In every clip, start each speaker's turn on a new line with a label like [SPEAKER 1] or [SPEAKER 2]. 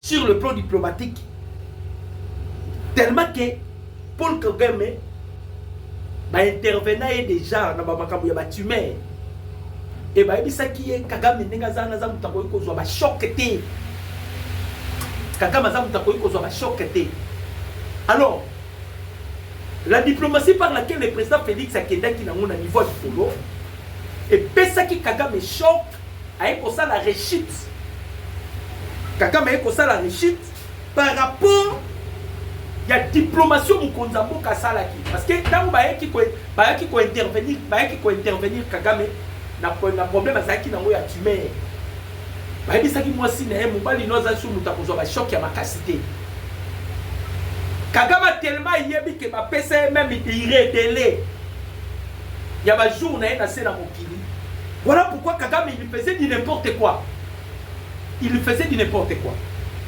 [SPEAKER 1] sur le plan diplomatique tellement que paul kagame baintervena ye déjà na bamakambo ya batumeur e bayebisaki ye kagame ndenge aza wana aza moto akoki kozwa bashoke te kagame aza moto akoki kozwa bashoke te alors la diplomatie par laquelle le président félix akendaki nango na niveau ya likolo epesaki kagame shok Aye kosala rechute. Kagame aye kosala rechute par rapport ya diplomatie mokonzi ya mboka asalaki parce que ntango bayaki bayaki kointervenir bayaki kointervenir kagame na problème azalaki nango ya tumeur bayebisaki mwasi na ye mobali no azali so moto akozwa bashock ya makasi te kagame atelema ayebi ke bapesa ye meme ire dele ya ba jours na ye na se na mokili. Voilà pourquoi Kagame il faisait du n'importe quoi. Il faisait du n'importe quoi.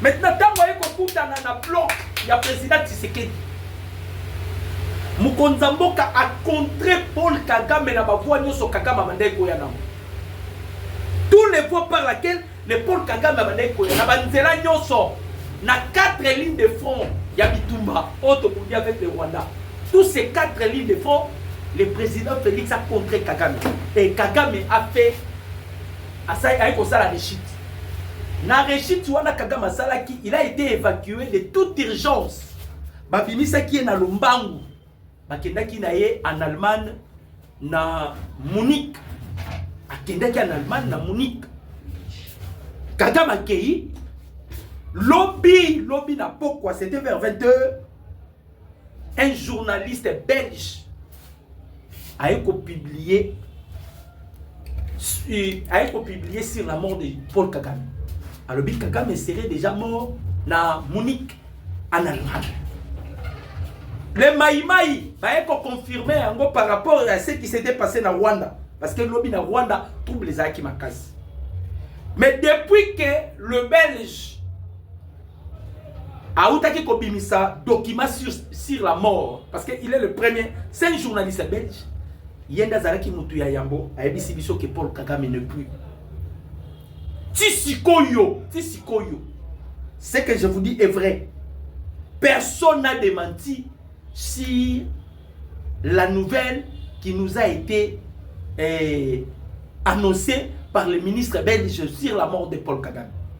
[SPEAKER 1] Maintenant ntango aye kokutana na bloc ya président Tshisekedi mokonzi ya mboka acontre Paul Kagame na bavua nyonso Kagame abandaki koya nango tous les voies par laquelle Mais Paul Kagame abandaki koya na banzela nyonso na quatre lignes de front ya bitumba oyo tobundi avec le Rwanda. Tous ces quatre lignes de front, le président Félix a contré Kagame. Et Kagame a fait aye kosala rechute. Na rechute wana Kagame asalaki, il a été évacué de toute urgence. Babimisaki ye na lombangu bakendaki na ye en allemagne na munich akendaki en allemagne na munich kagame akei lobi lobi na pokwa c'était vers 22 un journaliste belge aye kopublie aye ko publier sur la mort de Paul Kagame alobi Kagame serait déjà mort na Munich en Allemagne le maimai baye ko confirmer yango par rapport à ce qui s'était passé na Rwanda parce que lobi na Rwanda trouble ezalaki makasi mais depuis que le belge autaki kobimisa document sur, sur la mort parce que il est le premier c'est un journaliste belge ye nde azalaki motu ya yambo ayebisi biso ke paul kagame ne plus ti sikoyo ti sikoyo ce que je vous dis est vrai personne n'a démenti si la nouvelle qui nous a été eh, annoncée par le ministre belge sur la mort de paul kagame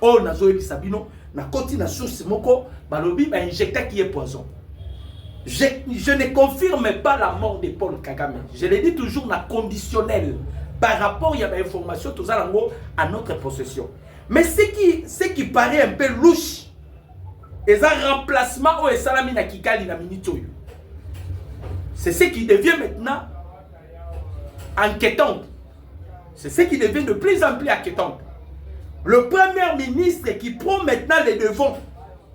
[SPEAKER 1] oyo nazoyebisa bino nakoti na source moko balobi ba injectaki ye poison je, je ne confirme pas la mort de paul kagame je le dis toujours na conditionnel par rapport ya bainformation toza nango à notre possession mais ce qui, ce qui paraît un peu louche eza remplacement oyo esalami na kikali na minute oyo c'est ce qui devient maintenant inquiétant C'est ce qui devient de plus en plus inquiétant. Le premier ministre qui prend maintenant les devants,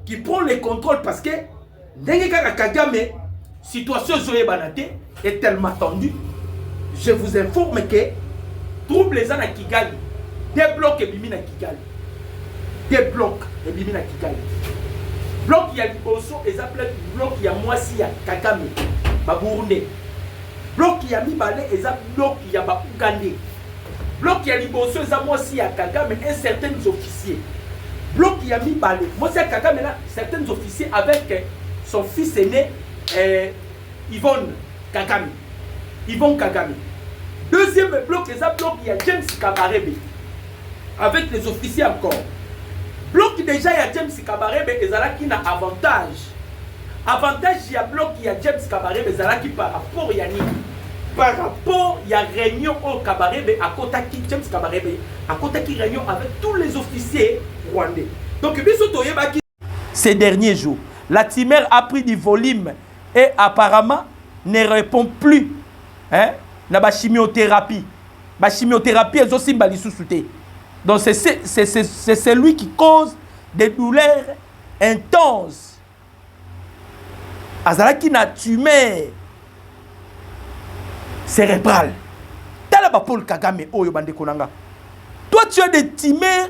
[SPEAKER 1] qui prend les contrôles parce que ndenge kaka Kagame situation ezoyebana te est tellement tendue. Je vous informe que trouble eza na Kigali, des blocs ebimi na Kigali. Des blocs ebimi na Kigali. Bloc ya liboso eza bloc ya mwasi ya Kagame, ba Burundais. Bloc ya mibale eza bloc ya ba Ougandais. Bloc ya liboso eza mwasi ya Kagame et certains officiers. Bloc ya mibale mwasi ya Kagame na certains officiers avec son fils aîné eh, Yvonne Kagame. Yvonne Kagame. Deuxième bloc eza bloc ya James Kabarebe. avec les officiers encore bloc deja ya James Kabarebe ezalaki na avantage avantage ya bloc ya James Kabarebe ezalaki par rapport ya nini par rapport ya réunion oyo Kabarebe akotaki James Kabarebe akotaki réunion avec tous les officiers rwandais donc biso toyebaki Ces derniers jours, la timeur a pris du volume et apparemment ne répond plus hein, na ba chimiothérapie. Ba chimiothérapie ezosimba lisusu te. Donc c'est celui qui cause des douleurs intenses. Azalaki na tumeur cérébrale. Tala ba Paul Kagame oyo bandeko nanga. Toi tu as des tumeurs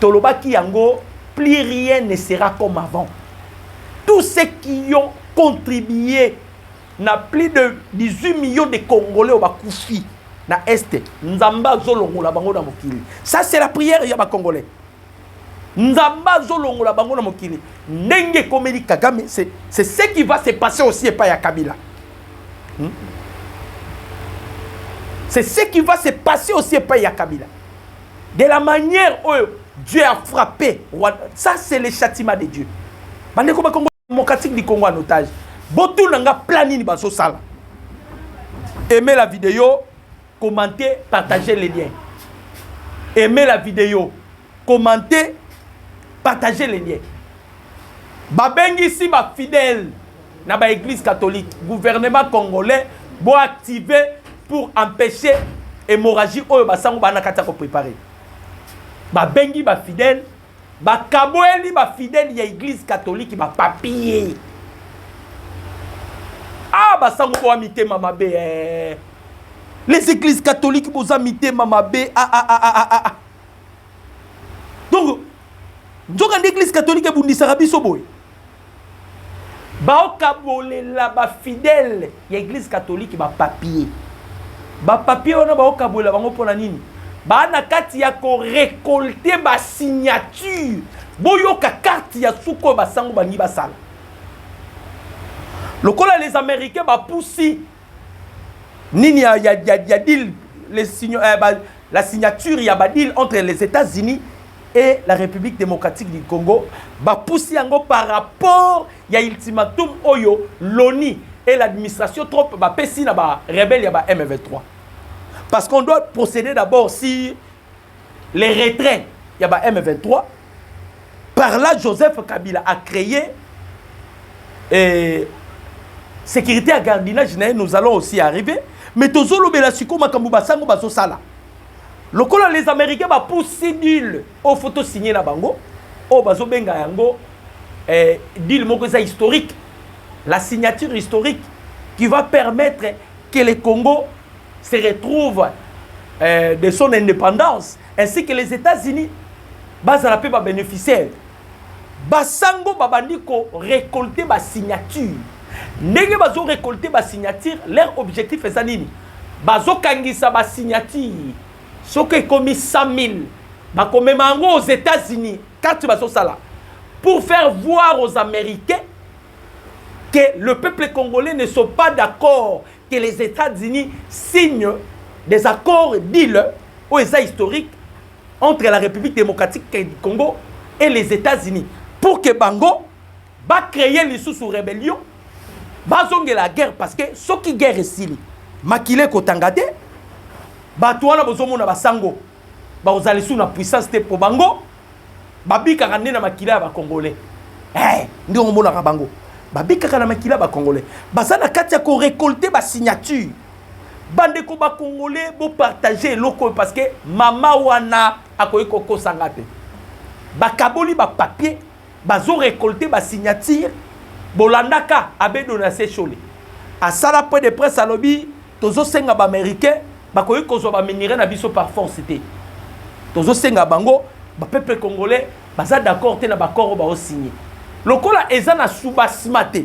[SPEAKER 1] tolobaki yango plus rien ne sera comme avant tous ceux qui ont contribué na plus de 18 millions de congolais oyo bakufi na este nzambe azolongola bango na mokili ça c'est la prière ya bacongolais nzambe azolongola bango na mokili ndenge ekomeli kagame c'est ce qui va se passer aussi epai ya kabila hmm? c'est ce qui va se passer aussi epai ya kabila de la manière oyo Dieu a frappé Rwanda ça c'est le châtiment de Dieu bandeko bakongo démocratique du Congo en otage botuna nga plan nini bazosala aimez la vidéo commentez partagez les liens aimez la vidéo commentez partagez les liens babengisi bafidèle na ba eglise catholique gouvernement congolais bo activer pour empêcher hémorragie oyo basango bana kati ya koprepare babengi bafidèle bakaboyeli bafidèle ya eglise catholique bapapie a ah, basango boya mitema mabe eh. les églises catholiques boza mitema mabe ah, ah, ah, ah, ah. ah. donc nzoka nde église catholique ebundisaka biso boye Baokabolela ba fidèle ya eglise catholique ba papier. Ba papier wana baokabolela bango pona nini? Ba na kati ya ko recolter ba signature. Boyoka carte ya suko ba sango balingi basala. Lokola les americains ba pusi nini ya ya ya, ya deal les signo, eh, ba, La signature ya ba deal entre les Etats-Unis et la Republique democratique du Congo bapusi yango par rapport ya ultimatum oyo l'ONU et l'administration Trump bapesi na ba rebelle ya ba M23 parce qu'on doit procéder d'abord sur les retraits ya ba M23 Par là, Joseph Kabila a créé euh, sécurité à gardiennage, nous allons aussi arriver. Mais Tozolo Belasiko Makambo Basango Basosala. Lokola les Américains ba pousser deal au photo signé na bango, au bazo benga yango euh, deal moko eza historique, la signature historique qui va permettre que le Congo se retrouve euh, de son indépendance ainsi que les Etats-Unis bazala pe ba beneficiaires basango babandi ko recolter ba signature ndenge bazo recolter ba signature leur objectif eza nini bazokangisa ba signature soki ekomi 100 000 bakomema yango aux Etats-Unis kati bazosala pour faire voir aux Américains que le peuple congolais ne sont pas d'accord que les Etats-Unis signent des accords deal oyo eza historique entre la République démocratique du Congo et les États-Unis pour que bango ba créer lisusu rébellion bazongela guerre parce que soki guerre esili makila ekotanga te bato wana bozomona basango bakozala lisusu na puissance te po bango babikaka nde na makila ya ba congolais eh nde omonaka bango babikaka na makila ya ba congolais baza na kati ya ko récolter ba signature bandeko ba congolais bo partager eloko oyo parce que mama wana akoki kokosa nga te bakaboli ba papier bazo recolte ba signature bolandaka abe donatien shole asala point de presse alobi tozosenga baaméricain bakoki kozwa baminerai na biso par force te tozosenga bango bapeuple congolais baza d'accord te na baccord oyo baosigne lokola eza na subasima te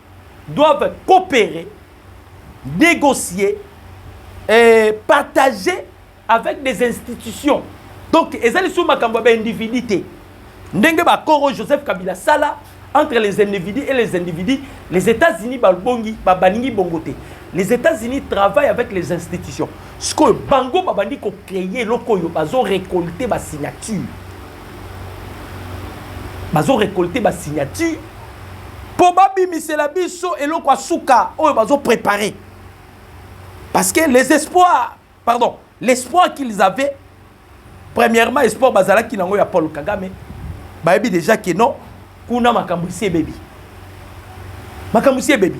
[SPEAKER 1] doivent coopérer, négocier, euh, partager avec des institutions. Donc, ezali sous makambo ya individu te. Ndenge ba Koro Joseph Kabila sala entre les individus et les individus, les États-Unis balbongi ba baningi bongote. Les États-Unis travaillent avec les institutions. Ce que bango babandi ko créer lokoyo bazo récolter ba signature. bazo recolter ba signature mpo babimisela biso eloko ya suka oyo bazo prepare parce que les espoirs pardon l'espoir qu'ils avaient premièrement espoir bazalaki nango ya paul kagame bayebi déjà que non kuna makambo esi ebebi makambo esi ebebi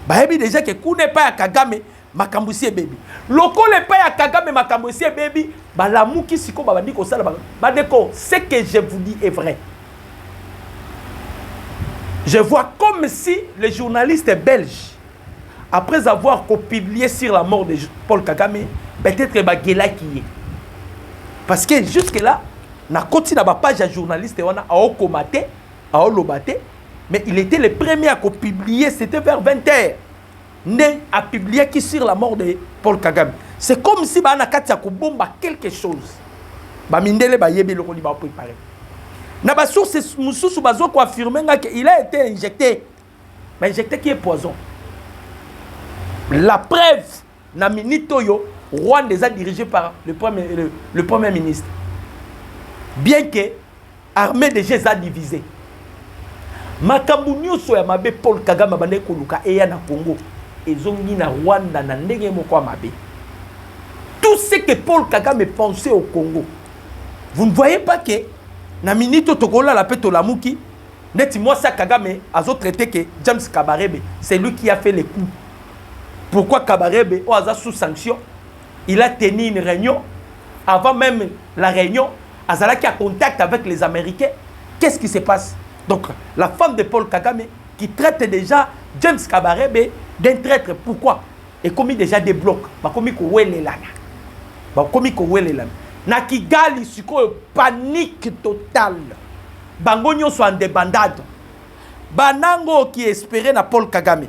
[SPEAKER 1] bayebi déjà ke kuna epai ya kagame makambo esi ebebi lokola epai ya kagame makambo esi ebebi balamuki sikoyo babandi kosala bandeko ce que je vous dis est vrai je vois comme si les journalistes belges après avoir copublié sur la mort de paul kagame peut-être bagelaki ye parce que jusque là nakoti na bapage ya journaliste wana aokoma te aoloba te mais il était le premier à copublier c'était vers 20 heures nde a publiaki sur la mort de Paul Kagame c'est comme si ba na kati ya kobomba quelque chose ba mindele ba yebi lokoli ba préparer na ba sources mususu bazo ko affirmer nga que il a été injecté ba injecté qui est poison la preuve na minute oyo Rwanda est dirigé par le premier le, le premier ministre bien que Armee dejà eza divise. Makambo nioso ya mabe Paul Kagame abandaki koluka eya na Congo ezongi na Rwanda na ndenge moko ya mabe. Tout ce que Paul Kagame pensait au Congo. Vous ne voyez pas que na minute tokolala pe tolamuki neti moi ça Kagame azo traité que James Kabarebe c'est lui qui a fait les coups. Pourquoi Kabarebe oyo aza sous sanction il a tenu une réunion avant même la réunion azalaki à contact avec les américains qu'est-ce qui se passe donc la femme de paul kagame qui traite déjà james kabarebe d'un traître pourquoi ekomi déjà des blocs bakomi kowelelana bakomi kowelelana na kigali sikoyo panique totale bango nyonso en debandade banango qui espere na paul kagame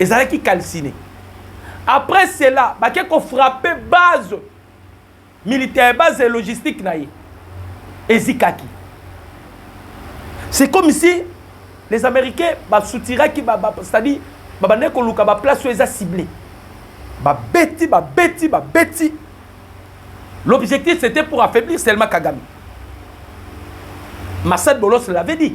[SPEAKER 1] ezalaki calcine après cela bake kofrappe base militaire base ya logistique na ye ezikaki c'est comme si les américains basoutiraki ba, ba, c'est-à-dire babandaki koluka baplace oyo eza cible babeti babeti babeti l'objectif c'était pour affaiblir seulement kagame massad bolos l'avait dit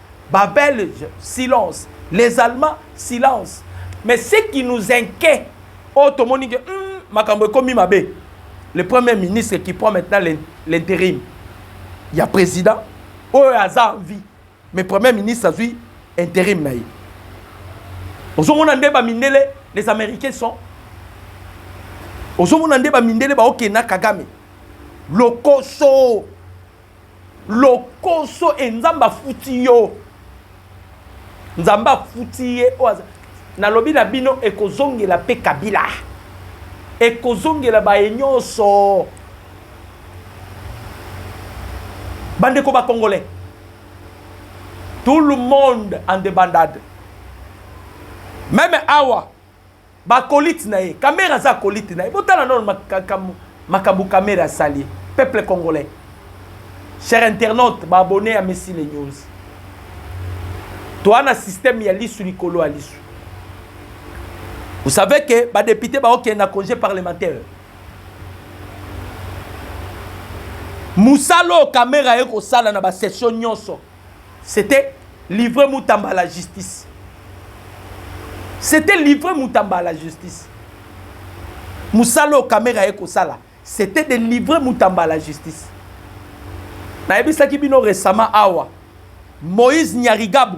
[SPEAKER 1] Ba belges silence les allemands silence mais ce qui nous inquet oyo tomoni ke hum makambo ekomi mabe le premier ministre qui prend maintenant l'interim ya president oyo aza en vie mais premier ministre azwi interim na ye ozomona nde bamindele les américains sont ozomona nde bamindele baokenda kagame lokoso Lokoso et nzambe afuti yo. Nzambe afuti ye oyo aza nalobi na bino ekozongela mpe kabila ekozongela baye nyonso bandeko bacongolais tout le monde en debandade meme awa Ba acolytes na ye. Kamerhe aza acolyte na ye. Botala nanu makambo makambo Kamerhe asali ye. Peuple congolais. Cher internaute, ba abonnes ya Messi le News. Toa na système ya lisu likolo ya lisu. Vous savez que ba députés ba okende na congé parlementaire. Musalo Kamerhe aye kosala na ba session nyonso. C'etait livrer Mutamba à la justice. C'était livrer Mutamba à la justice. Musalo Kamera ye kosala, c'était de livrer Mutamba à la justice. Nayebisaki bino récemment awa Moïse Nyarigabu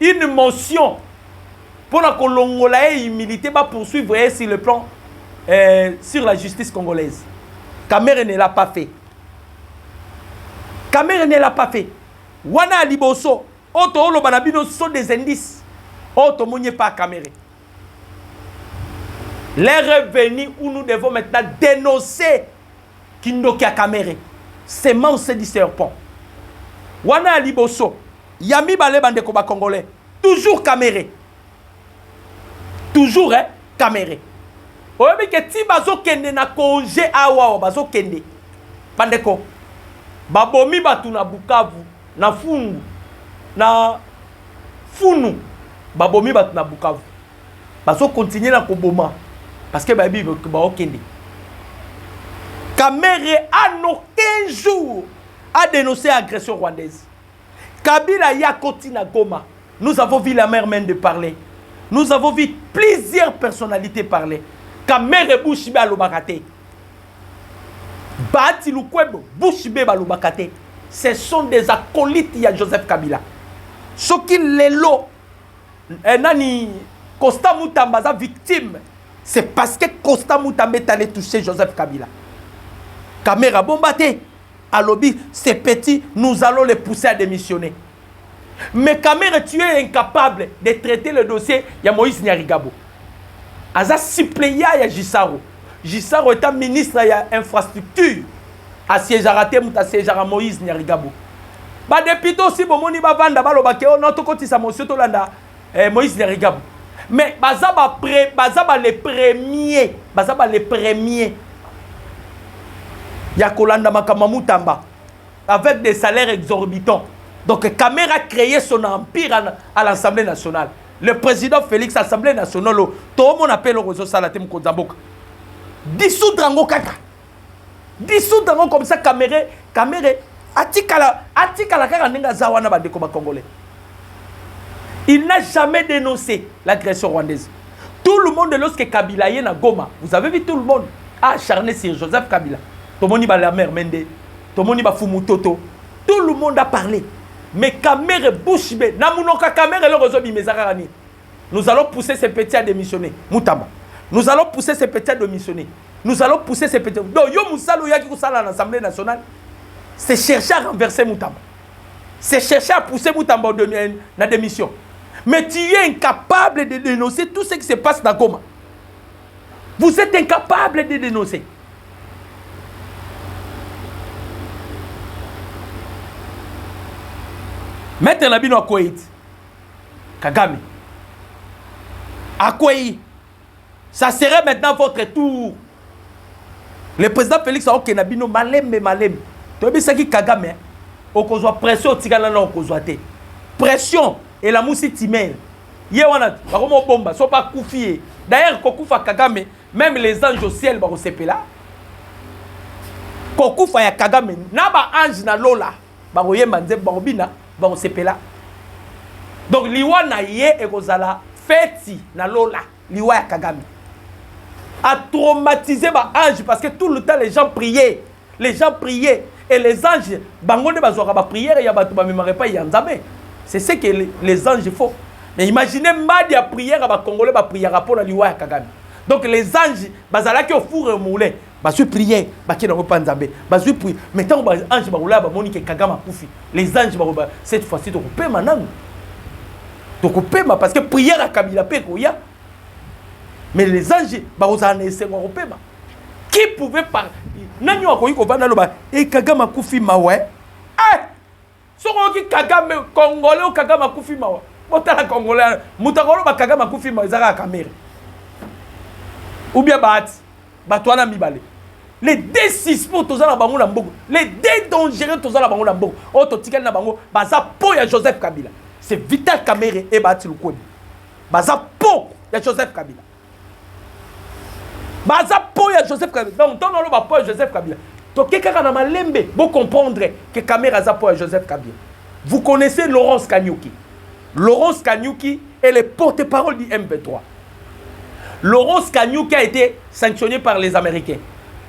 [SPEAKER 1] une motion pona kolongola ye humilite ba poursuivre ye sur le plan euh, sur la justice congolaise Kamere ne l'a pas fait Kamere ne l'a pas fait wana liboso oyo tooloba na bino sont des indices oyo tomoni epa Kamere L'heure est venue où nous devons maintenant dénoncer Kindoki à Kamere, semence du serpent. Wana liboso, Ya mibale ba ndeko ba congolais toujours kamere toujours eh kamere oyebi ke ti bazokende na konge awawa bazokende bandeko babomi bato na bukavu na fungu na funu babomi bato na bukavu bazokontinue na koboma parceke bayebi baokende kamere an aucun jour adenonce agression rwandaise Kabila ya koti na Goma. Nous avons vu la mère mène de parler. Nous avons vu plusieurs personnalités parler. Kamere Bushbe alobaka te. Bahati Lukwebo Bushbe balobaka te. Ce sont des acolytes ya Joseph Kabila. Soki lelo eh, nani Costa Mutamba aza victime, c'est parce que Costa Mutamba est allé toucher Joseph Kabila. Kamera bomba te. Alobi ce petit nous allons le pousser à demissionner mais Kamerhe tu es incapable de traiter le dossier ya Moïse Nyarigabo aza suppleant ya Gisaro Gisaro est un ministre ya infrastructure asiegeaka te moto asiegeaka Moïse Nyarigabo ba depute osi bomoni bavanda baloba ke o oh non tokotisa mosio tolanda eh, moïse nyarigabu mais baza ba pre, baza ba le premier baza ba le premier ya kolanda makambo ya mutamba avec des salaires exorbitants donc kamere a créé son empire à, à l'assemblée nationale le président félix assemblée nationale toomona mpe eloko ezosala te mokonzi ya mboka dissoudre yango kaka dissoudre yango comme ça kamere kamere atikala atikala kaka ndenge aza wana bandeko ba congolais il n'a jamais dénoncé l'agression rwandaise tout le monde lorsque kabila ye na goma vous avez vu tout le monde a acharné sur joseph kabila tomoni balamer mende tomoni bafumu toto tout le monde a parlé mais kamere bouche be na monoko ya kamere eloko ezobima eza kaka nini nous allons pousser ce petit à démissionner mutamba nous allons pousser ce petit à démissionner nous allons pousser ces petits donc yo mosala oyaki kosala na assemblée nationale c'est chercher à renverser mutamba c'est chercher à pousser mutamba na démission mais tu es incapable de dénoncer tout ce qui se passe na goma vous êtes incapable de dénoncer maître na bino akwei ti kagame akwei Ça serait maintenant votre tour. Le président Félix aokenda bino malembe malembe. Toyebisaki Kagame hein. okozwa pression otikala na okozwa te. Pression elamusi timere. Ye wana bakoma obomba soki akufi ye. D'ailleurs kokufa Kagame même les anges au ciel bakosepela. Kokufa ya Kagame na ba ange na lola. bakoyemba nzembo bakobina bakosepela donc liwa na ye ekozala feti na lola liwa ya kagame atraumatise baange parce que tout le temps les gens prier les gens prier et les anges bango nde bazwaka bapriere ya bato bamemaka epai ya nzambe c'est ce que les anges faux mais imagine mbadi ya priere bakongole bapriaka mpo na liwa ya kagame donc les anges bazalaki ofure moulin bazwi prière bakei nango mpa nzambe bazwi pui mais ntango baange bakolaya bamoni ke kagame akufi les anges bakoloba cette fois-ci tokopema nanu tokopema parce que prière ya kabila mpe ekoya mais les anges bakozala na esengo ya kopema qui pouvait par nani oyo akoki kovanda aloba e eh, kagame akufi mawa eh? Soki oyoki Kagame Congolais ou Kagame akufi mawa. Botala Congolais moto akoloba Kagame akufi mawa eza kaka Kamere. Ou bien Bahati. Bato wana mibale. Les deux suspects toza na bango na mboko. Les deux dangereux toza na bango na mboko. Oyo totikali na bango baza po ya Joseph Kabila. C'est Vital Kamere et Bahati Lukwebo. Baza po ya Joseph Kabila. baza po ya joseph kabila donc ntango naloba po ya joseph kabila toke kaka na malembe bocomprendre ke kamere aza po ya joseph kabila vous connaissez laurence kanyuki laurence kanyuki est le porte parole du mp3 laurence kanyuki a été sanctionné par les américains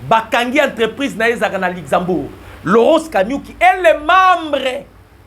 [SPEAKER 1] bakangi entreprise na ye ezalaka na luxembourg laurence kanyuki est le membre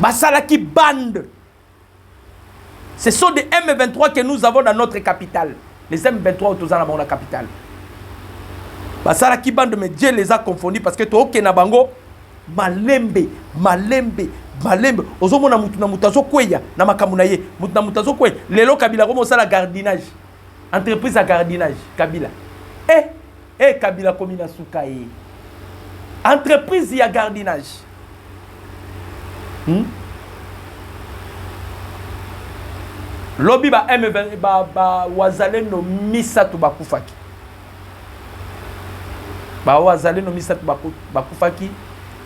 [SPEAKER 1] basalaki bande ce sont des m23 que nous avons dans notre capitale les m23 oyo toza na bango na capitale basalaki bande mais dieu les a confondu parce que tookende na bango malembe malembe malembe ozomona motu na motu azokweya na makambo na ye motu na motu azokweya lelo kabila akoma osala gardinage entreprise ya gardinage kabila e eh! Hee kabila akomi na sukaee. Entreprise ya gardinage hum? lobi ba m ba, ba wazalendo misato bakufaki ba wazalendo misato bakufaki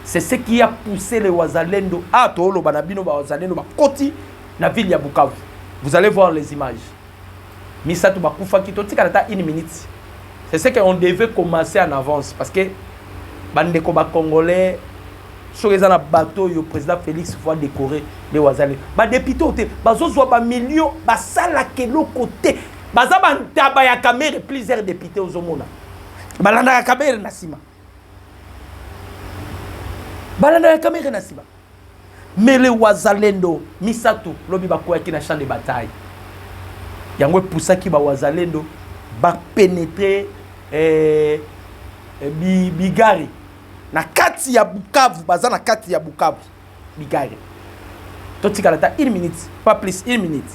[SPEAKER 1] c'est ce qui a poussé les wazalendo a ah, toloba na bino ba wazalendo bakoti na ville ya Bukavu vous allez voir les images misato bakufaki totikala ata une minute c'est ce qu'on devait commencer en avance parce que bandeko bacongolais soki eza na bato oyo président félix fois décoré nde wazali badepute oyo te bazozwa bamillion basalaka eloko te baza bantaba ya kamere plusieurs député ozomona balandaka kamere na nsima balandaka kamere na nsima mais le wazalendo misato lobi bakweyaki na champ de bataille yango epusaki ba wazalendo ba pénétrer eh, eh, bi, bigari na kati ya bukavu baza na kati ya bukavu bigari totikala ata une minute pas plus une minute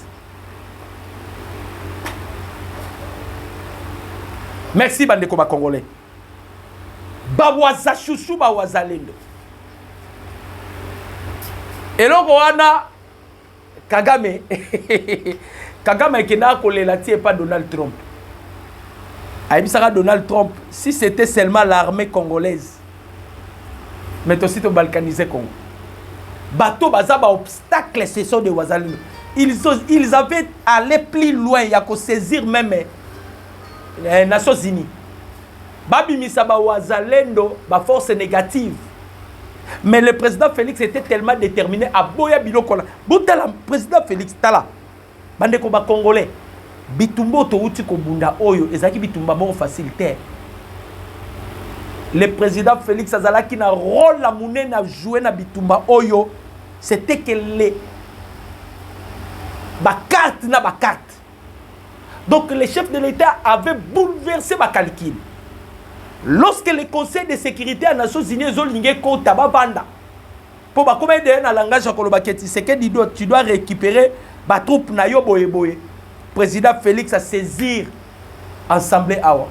[SPEAKER 1] merci bandeko bacongolais ba wazachouchou ba wazalendo eloko wana kagame kagame akendaka kolela ti epa donald trump ayebisaka donald trump si c'était seulement l'armée congolaise mais tosi tobalkanise congo bato baza baobstacle ce sont de wazalendo ils, ils avaient allé plus loin ya kosaisir meme eh, nations unis babimisa bawazalendo baforce négative mais le président félix était tellement déterminé aboya biloko na botala président félix tala bandeko bacongolais bitumba oyo touti kobunda oyo ezalaki bitumba moko facile te le président félix azalaki na rôle ya monene ajoue na bitumba oyo c'était que le bacarte na bacarte Donc le chef de l'Etat avait bouleversé ma calcul. Lorsque le Conseil de sécurité à Nations Unies ezolinge kota bavanda mpo bakoma ede na langage ya koloba ke Tshisekedi do tu dois récupérer ba troupes na yo boye boye. Président Félix a saisir assemblée awa.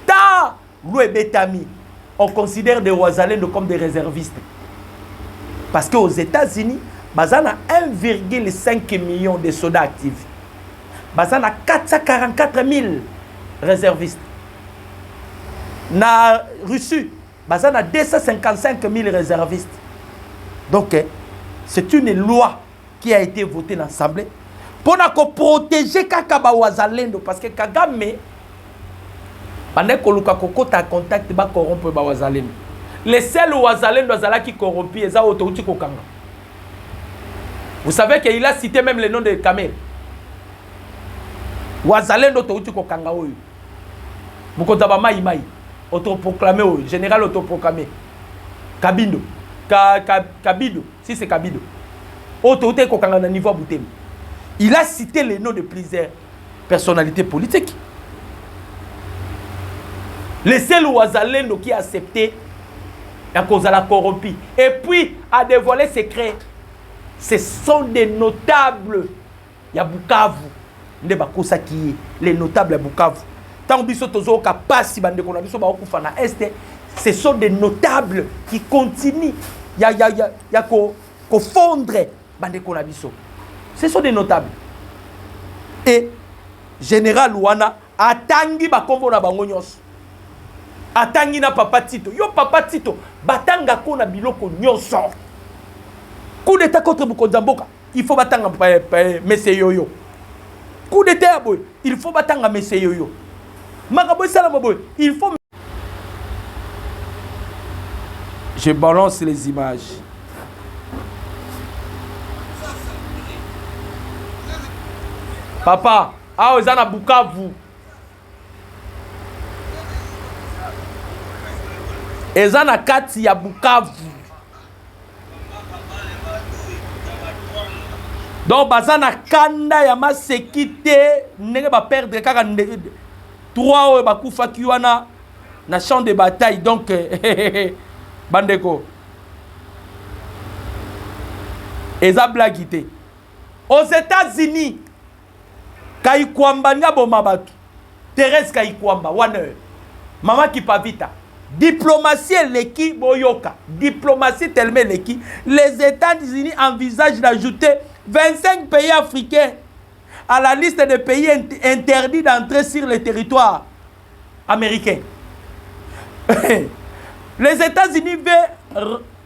[SPEAKER 1] Ta Loi ebetami, on considère des Wazalendo comme des reservistes. Parce que aux Etats-Unis, baza na 1,5 million de soda active baza na 444 000 reservistes na russie baza na 255 000 reservistes donc eh, c'est une loi qui a été voté na assemblée pona ko protéger kaka ba wazalendo parce que Kagame bande koluka kokota contact ba corrompre ba wazalendo le seul wazalendo azalaki corrompu eza oyo touti kokanga vous savez que il a cité même le nom de Kamel wazalendo touti kokanga oyo mokonzi ya bamai mai autoproclame oyo général autoproclame kabindo ka, ka, kabido Si c'est Kabido. Oyo towutaki kokanga na niveau ya Butembo. Il a cité les noms de plusieurs personnalités politiques. Le seul Wazalendo qui a accepté ya kozala corrompu et puis a dévoilé secret ce sont des notables ya Bukavu nde bakosaki ye les notables ya Bukavu ntango biso tozooka mpasi bandeko na biso baokufa na este ce sont des notables qui continuent ya, ya, ya, ya ko, kofondre bandeko na biso ce sont des notables e général wana atangi bakombo na bango nyonso atangi na papa tito yo papa tito batangako na biloko nyonso coup d'état contre mokonzi ya mboka il faut batanga mese yoyo coup d'état ya boye il faut batanga mese yoyo makambo esalama boye il faut je balance les images papa awa eza na bukavu eza na kati ya Bukavu. Donc baza na kanda ya maseki te ndenge ba perdre kaka trois oyo bakufaki wana na champ de bataille donc bandeko eza blagi te aux États-Unis Kayikwamba nde aboma batu. Therèse Kayikwamba wana oyo. Maman Kipavita. Diplomatie eleki boyoka diplomatie tellement eleki les Etats-Unis envisagent d'ajouter 25 pays africains à la liste des pays interdits d'entrer sur le territoire américain. les Etats-Unis veulent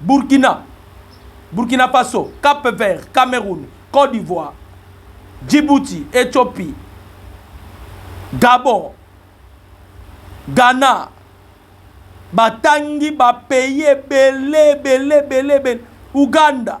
[SPEAKER 1] Burkina, Burkina Faso, Cap Vert, Cameroun, Cote d'Ivoire, Djibouti, Ethiopie, Gabon, Ghana, batangi ba pays ebele ebele ebele ebele, Ouganda.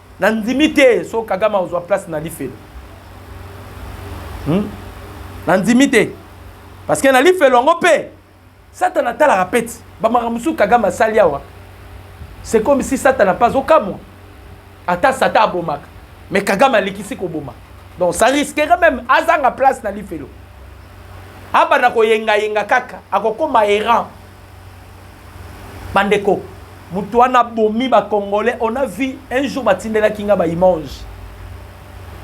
[SPEAKER 1] na ndimi te so kagame akozwa place na lifelo hmm? na ndimi te parce que na lifelo yango mpe satana atalaka peti bamakambo mosusu kagame asali awa c'est comme si satana mpe azokamwa ata satan abomaka mais kagame alikisi koboma donc ça risquerait même azanga place na lifelo abanda koyengayenga kaka akokoma errant bandeko moto wana abomi ba congolais on a vu un jour batindelaki nga ba image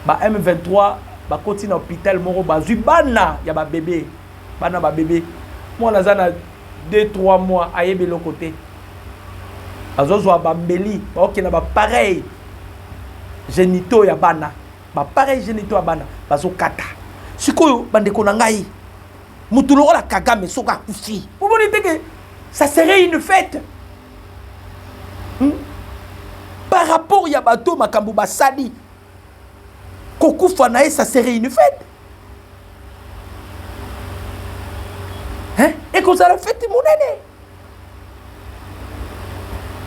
[SPEAKER 1] ba m23 bakoti na hôpital moko bazwi bana ya babebe bana babebe mwana aza na 2 3 mois ayebi eloko te azozwa bambeli baokenda bapareil genito ya bana bapareil genito ya bana bazokata sikoyo bandeko na ngai mutu lokola kagame soki akufi omoni te ke ça serait une fête hmm? par rapport ya bato makambo basali kokufa na ye ça serait une fête hein? ekozala fete monene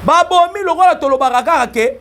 [SPEAKER 1] babomi lokola tolobaka kaka ke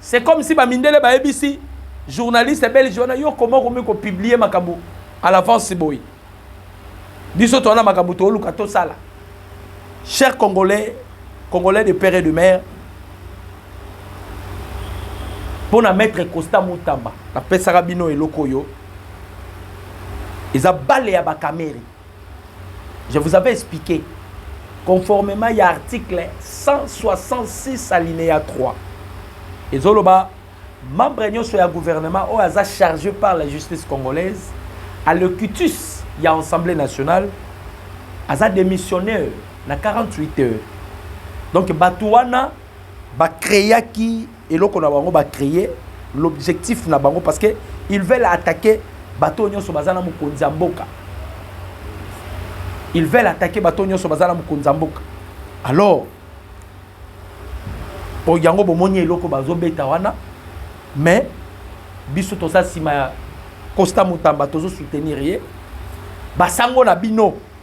[SPEAKER 1] C'est comme si ba mindele ba ebisi journaliste belge wana yo comment okomi ko publier makambo à l'avance boye biso towana makambo tooluka tosala cher congolais congolais de père et de mère mpo na maître costa mutamba napesaka bino eloko oyo eza bale ya bakamere Je vous avais expliqué, conformément ya article 166 alinéa 3, ezoloba membre nyonso ya gouvernement oyo aza chargé par la justice congolaise à locutus ya assemblée nationale aza démissionnaire na 48 heures donc bato wana bacreaki Eloko na bango ba cree l'objectif na bango parce que ils veulent attaquer bato nyonso baza na mokonzi ya mboka ils veulent attaquer bato nyonso baza na mokonzi ya mboka alors po yango bomoni eloko bazobeta wana mais biso toza nsima ya costa mutamba tozosoutenir ye basango na bino